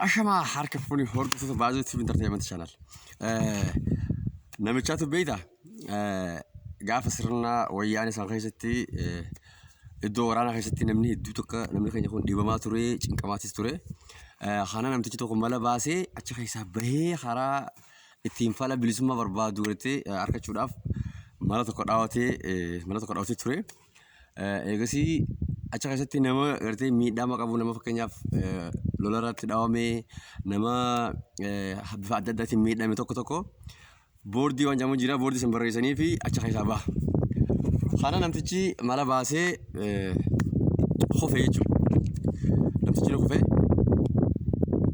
Ashamaa harka fuuni hordoftoota baazii TV Entertainment Channel. Namichaatu beeyta gaafa sirna wayyaanee isaan keessatti iddoo waraanaa keessatti namni hedduu tokko namni keenya kun dhiibamaa ture cinqamaatis ture. Kana namtichi tokko mala baasee achi keessaa bahee karaa ittiin fala bilisummaa barbaadu irratti argachuudhaaf mala tokko dhaawatee mala tokko dhaawatee ture. Eegasii achi keessatti nama gartee miidhama qabu nama fakkeenyaaf lola irratti dhawame nama bifa adda addaatiin miidhame tokko tokko boordii waan jedhamu jira boordii san barreessanii fi achi keessaa baha. Kana namtichi mala baasee kufe jechuudha. Namtichi ni kufe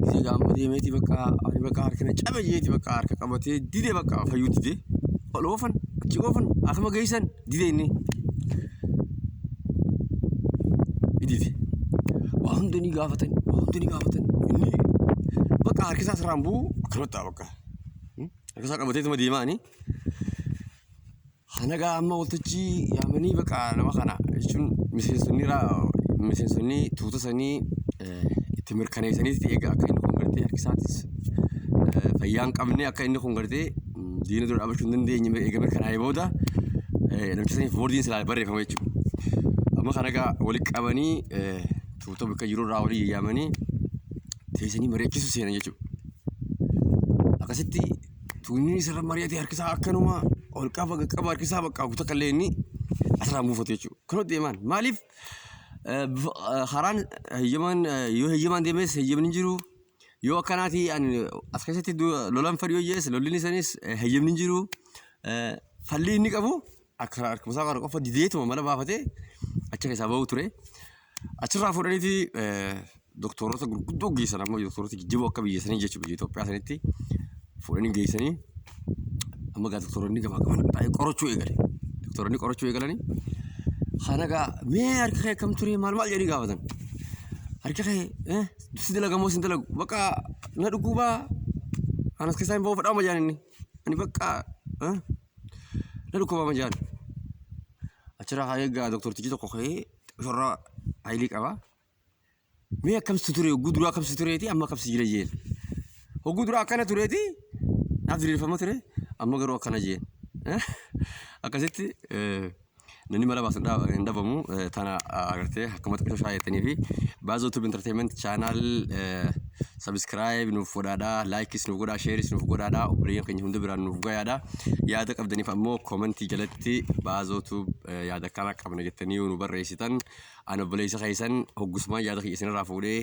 gisee gaamma deemeeti bakka ani bakka harkina cabe jeeti bakka harka qabatee dide bakka fayyuu dide ol oofan achi oofan akkuma geessan Dide inni. Dide. Waa hunda ni gaafatan, waa hunda ni gaafatan. Inni bakka harkisaa sirraan bu'u akkanumatti ta'a bakka. Hmm? Harkisaa qabatee tuma deemaa ani. Hanaga amma waltajjii yaamanii bakka nama kana jechuun miseensonni raa miseensonni tuuta sanii eh, itti mirkaneessaniiti egaa akka inni kun gartee harkisaatis eh, fayyaa hin qabne akka inni kun gartee diina dura dhaabachuu hin dandeenye mirga eegamee kanaa'ee booda namicha saniif boordiin silaa barreeffama jechuudha. Amma kana egaa walitti qabanii tuuta bakka jiru irraa walii yaamanii teessanii mari'achiisu seenan jechuudha. Akkasitti tuunni isarra mari'atee harkisaa akkanuma ol qaba qaqqaba harkisaa bakka guutuu akka illee inni asirraa buufatu jechuudha. Kunoo deemaan maaliif karaan heyyamaan yoo heyyamaan deemes heyyamni hin jiru Yoo akkanaati as keessatti lolan fadhi yoo jees lolliin isaaniis heyyamni jiru fallii inni qabu akka harkumasaa kana qofa dideetuma mala baafatee achi keessaa ba'uu ture. Achirraa fuudhaniiti doktoroota gurguddoo geessan amma doktoroota jijjiiroo akka biyya sanii jechuudha biyya Itoophiyaa sanitti fuudhanii geessanii amma gaa doktoroonni gamaa gamaa baay'ee qorachuu eegale. Doktoroonni qorachuu eegalanii kana gaa mee harka kee akkam ture maal maal jedhanii gaafatan. Harka kee si dalaga moo si hin dalagu bakka na dhukkuba kan as keessaa hin ba'u fadhaa majaan inni ani bakka eh, na dhukkuba majaan achirraa haa eegaa doktortichi tokko ka'ee shorra haayilii qaba mee akkamsi ture hogguu duraa akkamsi tureeti amma akkamsi jira jeen hogguu duraa akkana tureeti naaf diriirfama ture amma garuu akkana jeen akkasitti eh, Namni mara baasu hin dhabamu. Tana agartee akkamatti qisha shaayatanii fi baazoo tube entertainment channel subscribe nuuf godhaadha. Likes nuuf godhaa, shares nuuf godhaadha. Obboleeyyan keenya hunda biraan nuuf gayaadha. Yaada qabdaniif ammoo komentii jalatti baazoo tube yaada akkana qabna jettanii yoo nu barreessitan an obboleessa keessan hoggusmaan yaada kiyya isinirraa fuudhee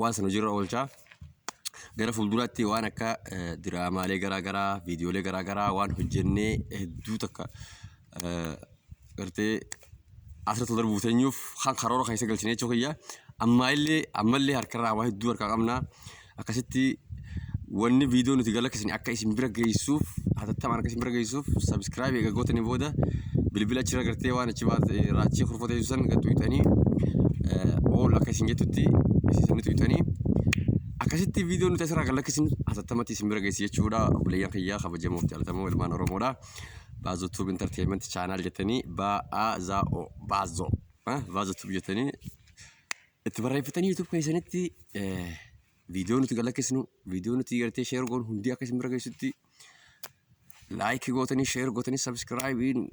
waan san hojiirra oolchaa gara fuulduraatti waan akka eh, diraamaalee garaa garaa viidiyoolee garaa garaa waan hojjennee hedduu takka eh, gartee asirratti darbuuf teenyuuf kan karoora keessa galchine jechuu kiyya ammaa illee ammallee harkarraa waa hedduu harkaa qabna akkasitti Wanni viidiyoo nuti galakkisne akka isin bira geessuuf hatattamaan akka isin bira geessuuf sabiskiraayib eega gootanii booda bilbila achirra gartee waan achi baate raachii kurfoo teessu san gad tuyxanii ool akka isin jettutti isin sanni tuyxanii akkasitti viidiyoo nuti asirraa galakkisne hatattamatti isin bira geessi jechuudha obboleeyyan kiyyaa kabajamoo fi jaalatamoo ilmaan oromoodha. Baazoo Tuub Intarteeyimenti chaanaal jettanii Baazoo Baazoo Baazoo Tuub jettanii itti barreeffatanii YouTube keessanitti viidiyoo nuti galakkisnu viidiyoo nuti gartee sheer goonu hundi akka isin bira geessutti laayikii gootanii sheer gootanii sabiskiraayibiin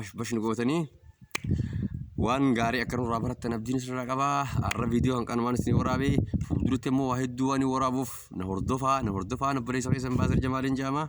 bashbashni gootanii waan gaarii akka nurraa barattan abdiin isinirraa qaba har'a viidiyoo hanqan waan isin waraabee fuulduratti immoo waa hedduu waan waraabuuf na hordofaa na hordofaa na bareessa keessan baasir jamaaliin jaama.